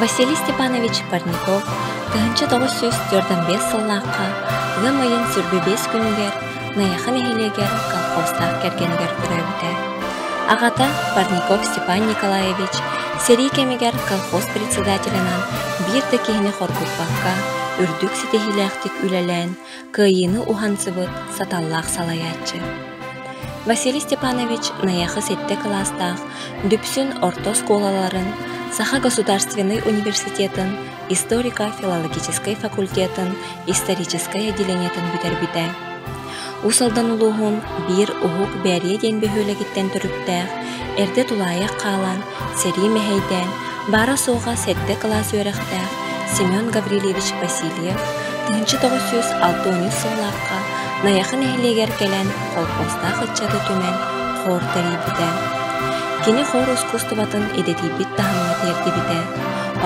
Василий Степанович Парников тыһыынча тоҕус сүүс төрдөн биэс сыллаахха ыам ыйын сүрбэ биэс күнүгэр Найахы нэһилиэгэ колхозтаах кэргэнигэр төрөөбүтэ. Аҕата Парников Степан Николаевич сэрии кэмигэр колхоз председателинэн биир да киһини хоргуппакка, үрдүк ситиһиилээхтик үлэлээн, кыайыыны уһансыбыт саталлаах салайааччы. Василий Степанович Найахы сэттэ кылаастаах Дүпсүн орто оскуолаларын, Саха государственнай университетын, историка-филологическай факультетын историческай отделениетын бүтэрбитэ. Уус Алдан улууһун биир Уһук Бээрийэ диэн бөһүөлэгиттэн төрүттээх, эрдэ тулаайах хаалан, сэрии мэһэйдээн, баара-суоҕа сэттэ кылаас үөрэхтээх Семен Гаврильевич Васильев тыһыынча тоҕус сүүс алтыыһынча сыллаахха Найахы нэһилиэгэр кэлэн холкуостаах ыччаты түмэн хор тэрийбитэ. Кини хор ускуустубатын идэтийбит таһымҥа тиэрдибитэ.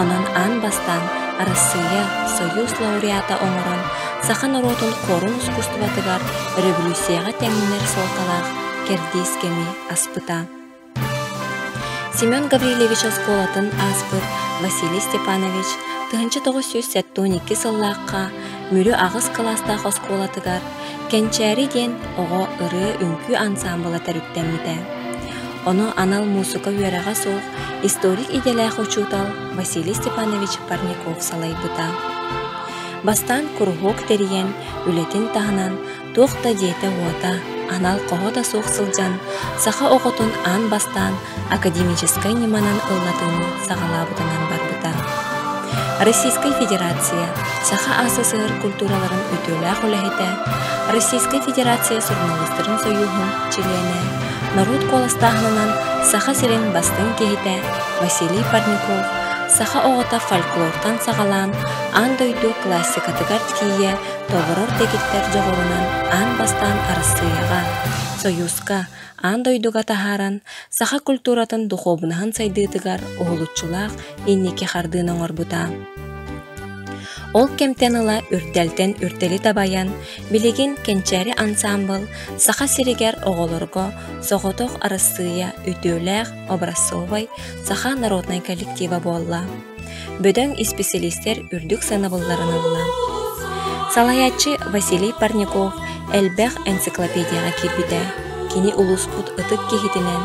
Онон аан бастаан Арассыыйа Союз лауреата оҥорон саха норуотун куорум ускусстубатыгар революцияҕа тэҥнэр суолталаах кэрдиис кэми аспыта. Семен Гаврильевич оскуолатын ааспыт Василий Степанович тыһыынча тоҕус сүүс сэттэ икки сыллаахха Мүлү аҕыс кылаастаах оскуолатыгар Кэнчээри диэн оҕо ырыа-үҥкүү ансаамбыла төрүттэммитэ. Ону анал муусука үөрэҕэ суох историк-идэлээх учуутал Василий Степанович Парников салайбыта. Бастаан куруһуок тэрийэн, үлэтин таһынан туох да диэтэ-уота, анал хоһо да суох сылдьан, саха оҕотун аан бастаан академическай ньыманан ыллатыыны саҕалаабытынан барбыта. Российскай Федерация Саха СССР культураларын үтүөлээх үлэһитэ, Российскай Федерация суруналыстарын союһун чилиэнэ норуот куоластааһынынан Саха сирин бастыҥ киһитэ Василий Парников саха оҕото фольклортан саҕалаан аан дойду классикатыгар тиийэ толорор дэгиттэр дьоҕурунан аан бастаан Арассыыйаҕа, Союзка, аан дойдуга таһааран, саха культуратын духуобунаһын сайдыытыгар уһулуччулаах инники хардыыны оҥорбута. Ол кэмтэн ыла үрдэлтэн үрдэли табайан, Билигин Кэнчээри ансаамбыл Саха сиригэр оҕолорго соҕотох Арассыыйа үтүөлээх образцовай саха народнай коллектива буолла. Бөдөҥ исписэлиистэр үрдүк санабылларын ылла. Салайааччы Василий Парников элбэх энциклопедияҕа киирбитэ. Кини улууспут ытык киһитинэн,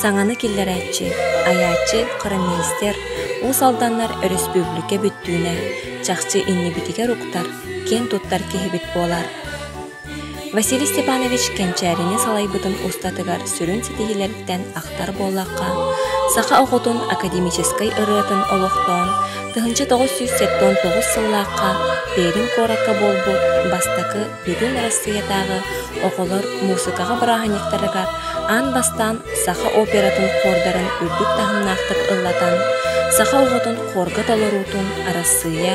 саҥаны киллэрээччи, айааччы, хронолистер, уус алданнар өрөспүүбүлүкэ бүттүүнэ чахчы иннибитигэр уктар киэн туттар киһибит буолар. Василий Степанович кэнчээрини салайбытын устатыгар сүрүн ситиһиилэриттэн ахтар буоллахха, саха оҕотун академическай ырыатын олохтоон, тыһыынча тоҕус сүүс сэттээн сыллаахха Пермь куоракка буолбут бастакы Бүтүн Арассыыйатааҕы оҕолор муусукаҕа бырааһынньыктарыгар аан бастаан саха оператын хордарын үрдүк таһымнаахтык ыллатан, саха оҕотун хорга толоруутун Арассыыйа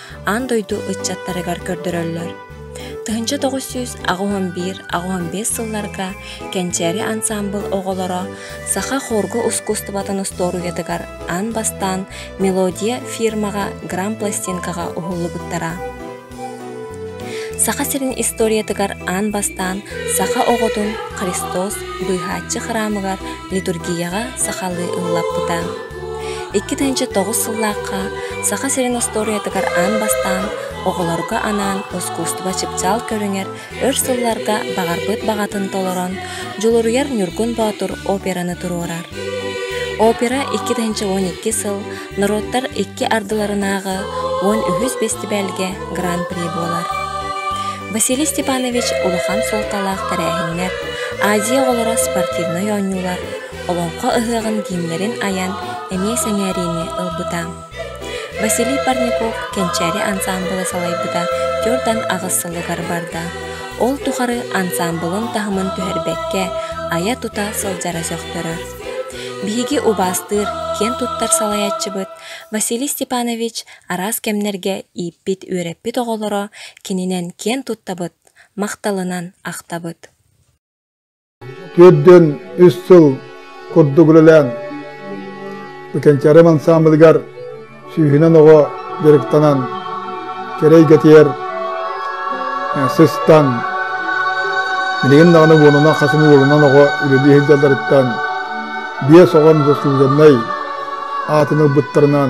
аан дойду ыччаттарыгар көрдөрөллөр. Тыһынча тоҕус сүүс аҕыһын биир аҕыһын биэс сылларга Кэнчээри ансаамбыл оҕолоро саха хорга ускустубатын устуоруйатыгар аан бастаан мелодия фирмаҕа грампластинкаҕа уһуллубуттара. Саха сирин историятыгар аан бастаан саха оҕотун Христос быыһааччы храмыгар литургияҕа сахалыы ыллаппыта. Икки тыһыынча тоҕус сыллаахха Саха сирин остуоруйатыгар аан бастаан оҕолорго анаан ускуустуба чыпчаал көрүҥэр өр сылларга баҕарбыт баҕатын толорон дьулуруйар Ньургун Боотур операны туруорар. Опера икки тыһыынча уон икки сыл норуоттар икки ардыларынааҕы уон үһүс бэстибээлгэ гран-при буолар. Василий Степанович улахан суолталаах тэрээһиннэр, Азия оҕолоро спортивнай оонньуулар, Олоҥхо ыһыаҕын кииннэрин айан эмиэ сэҥээриини ылбыта. Василий Парников Кэнчээри ансаамбыла салайбыта төрдөн аҕыс сылыгар барда. Ол тухары ансаамбылын таһымын түһэрбэккэ айа-тута сылдьара сөхтөрөр. Биһиги убаастыыр, киэн туттар салайааччыбыт Василий Степанович араас кэмнэргэ ииппит үөрэппит оҕолоро кининэн киэн туттабыт, махталынан ахтабыт. Төрдүн үс сыл курдук үлэлээн Быкэнчээрим ансаамбылыгар сүүһүнэн оҕо дьарыктанан, кэрэ эйгэтигэр сыстан, билигин даҕаны буонунан хасым уолунан оҕо үлэлии сылдьалларыттан биэс оҕон заслуженнай аатын ылбыттарынан